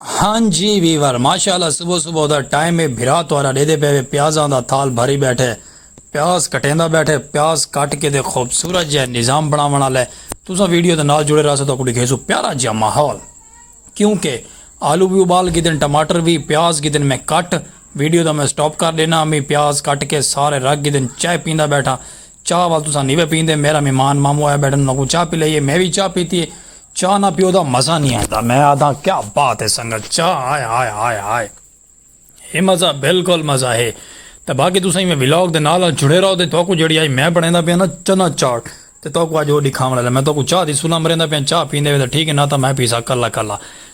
ہاں جی ویور ماشاءاللہ صبح صبح دا ٹائم ہے بھرا تہاڈا ڈیدے پے وے پیازاں دا تھال بھری بیٹھے پیاز کٹیندا بیٹھے پیاز کٹ کے تے خوبصورت جے نظام بناون والے تساں ویڈیو دے نال جڑے رہسو تو کو دکھیسو پیارا جا ماحول کیونکہ آلو بھی ابال کے دن ٹماٹر بھی پیاز کے دن میں کٹ ویڈیو دا میں سٹاپ کر دینا امی پیاز کٹ کے سارے رکھ کے دن چائے پیندا بیٹھا چاہ ول تساں نی وے پیندے میرا مہمان مامو آیا بیٹھن انہاں کوں چاہ پلائیے میں وی چاہ پیتی ہے چاہ نہ پیو دا مزہ نی آندا میں آدھاں کیا بات ہے سنگت چاہ ہائے ہائے ہائے ہائے ہے مزہ بالکل مزہ ہے تے باقی تساں ایویں ولاگ دے نال نال جڑے رہو تے تہاکوں جیڑی آئی میں بنڑیندا پیاں نا چنا چاٹ تے تہاکوں اج او ڈکھاونڑ آلا میں تہاکوں چاہ دی سلا مریندا پیاں چاہ پیندے وے تاں ٹھیک ہے نہ تاں میں پیساں کلا کلا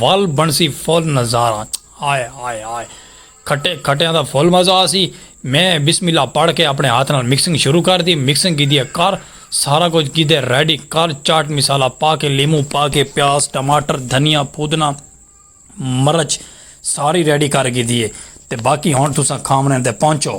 ول بنڑسی فل نظارہ ہائے ہائے ہائے کھٹے کھٹیاں دا فل مزہ آسی میں بسم اللہ پڑھ کے اپنے ہاتھ نال مکسنگ شروع کر دی مکسنگ کیتی ہے کر سارا کچھ کیتے ریڈی کر چاٹ مصالحہ پا کے لیموں پا کے پیاز ٹماٹر دھنیا پودنہ مرچ ساری ریڈی کر کیتی ہے تے باقی ہن تساں کھاونڑیں تے پہنچو۔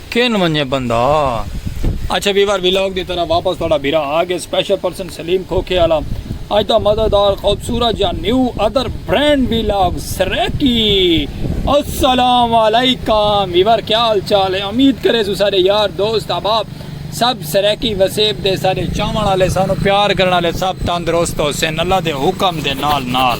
کن ونجے بندہ اچھا ویور ویلاگ دی طرح واپس تھوڑا بھرا آگے سپیشل پرسن سلیم کھوکھے آلا اج دا مزیدار خوبصورت جا نیو ادر برینڈ ویلاگ سریکی السلام علیکم ویور کیا حال چال ہے امید کرے سو سارے یار دوست احباب سب سریکی وسیب دے سارے چاون والے سانو پیار کرن والے سب تندرست حسین اللہ دے حکم دے نال نال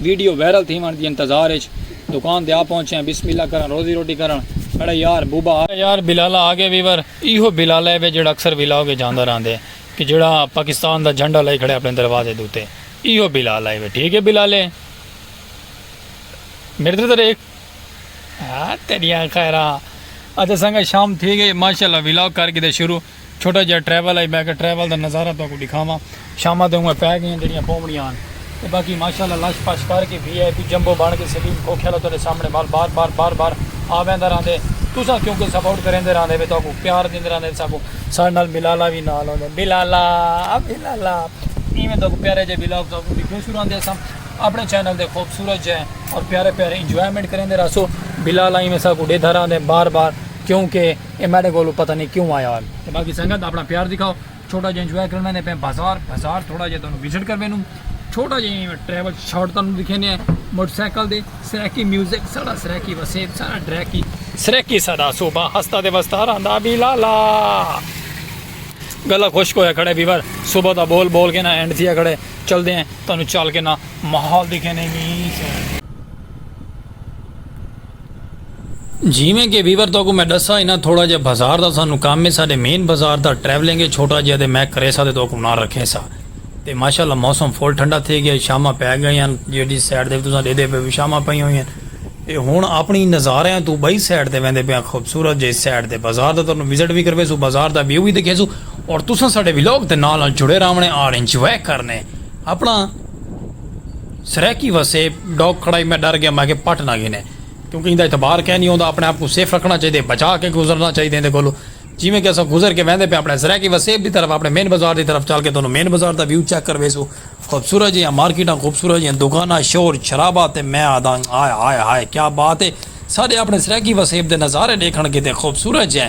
ویڈیو وائرل تھیوان دی انتظار اچ دکان تے آ پہنچے ہاں بسم اللہ کرن روزی روٹی کرن میڈا یار بوبا آ یار بلالا آ گئے ویور ایہو بلالا وے جیڑھا اکثر ولاگ اچ آندا راہندے کہ جیڑھا پاکستان دا جھنڈا لائی کھڑے اپنے دروازے دے اتے ایہو بلالا وے ٹھیک اے بلالے میڈے توں تیرے ایک ہاں تیڈیاں خیراں اچھا سنگا شام تھی گئی ماشاءاللہ ولاگ کر گدے شروع چھوٹا جہا ٹریول ہے میں کہ ٹریول دا نظارہ تہاکوں ڈکھاواں شاماں تے اوئیں پے گئیاں جیڑیاں پونڑیاں ہن تے باقی ماشاءاللہ لش پش کر کے وی آئی پی جمبو بن کے سلیم کھوکھے آلا تہاڈے سامنے وال بار بار بار بار آ ویندا رہندے تساں کیونکہ سپورٹ کریندے رہندے وے تہاکوں پیار دیندے رہندے وے ساکوں ساڈے نال بلالا وی نال ہوندے بلالا بلالا ایویں تہاکوں پیارے جے ولاگ تہاکوں ڈیکھیو سوں رہندے اساں اپنے چینل دے خوبصورت جے اور پیارے پیارے انجوائمنٹ کریندے رہسو بلالا ایویں ساکوں ڈیدھا رہندے بار بار کیونکہ اے میڈے کولوں پتہ نئیں کیوں آیا ہن۔ تے باقی سنگت اپنا پیار دکھاؤ چھوٹا جیاں انجوائے کرن ویندے پئے بازار بازار تھوڑا جیاں تانوں وزٹ کر ویندوں چھوٹا جیاں ایویں ٹریول شاٹ تانوں دکھیندے ہیں موٹر سائیکل دے سرائیکی میوزک ساڈا سرائیکی وسیب ساڈا ڈرائیکی سرائیکی ساڈا صوبہ ہستا تے وستا رہندا وی لالا گلا خشک ہویا کھڑے ویور صبح دا بول بول کے نا اینڈ تھیا کھڑے چلدے ہیں تانوں چل کے نا ماحول دکھیندے ہیں جیویں کہ ویور تہاکوں میں ڈسا انہاں تھوڑا جیہا بازار دا سانوں کم ہے ساڈے مین بازار دا ٹریولنگ ہے چھوٹا جیہا تے میں کریسا تے تہاکوں نال رکھیسا تے ماشاء اللہ موسم فل ٹھنڈا تھے گیا شاماں پے گئیاں جیڈی سائیڈ تے تساں ڈیدھے پے وی شاماں پئیاں ہوئیاں تے ہن اپنی نظاریاں توں بئی سائیڈ تے ویندے پیاں خوبصورت جئی سائیڈ تے بازار دا تہاکوں وزٹ وی کرویسوں بازار دا ویو وی دکھیسوں اور تساں ساڈے ولاگ دے نال نال جڑے راونے اور انجوائے کرنے اپنا۔ سرائیکی وسیب ڈاگ کھڑائی میں ڈر گیا میں اگے پٹ نہ گھنے کیونکہ ایندا اعتبار کائے نہیں ہوندا اپنے آپ کوں سیف رکھنا چاہیدے بچا کے گزرنا چاہیدے ایندے کولوں جیویں کہ اساں گزر کے ویندے پیاں اپنے سرائیکی وسیب دی طرف اپنے مین بازار دی طرف چل کے تانوں مین بازار دا ویو چیک کرویسوں خوبصورت جیہاں مارکیٹاں خوبصورت جیہاں دکاناں شور شرابہ تے میں آہداں ہائے ہائے ہائے کیا بات ہے ساڈے اپنے سرائیکی وسیب دے نظارے ڈیکھن کیتے خوبصورت جیہاں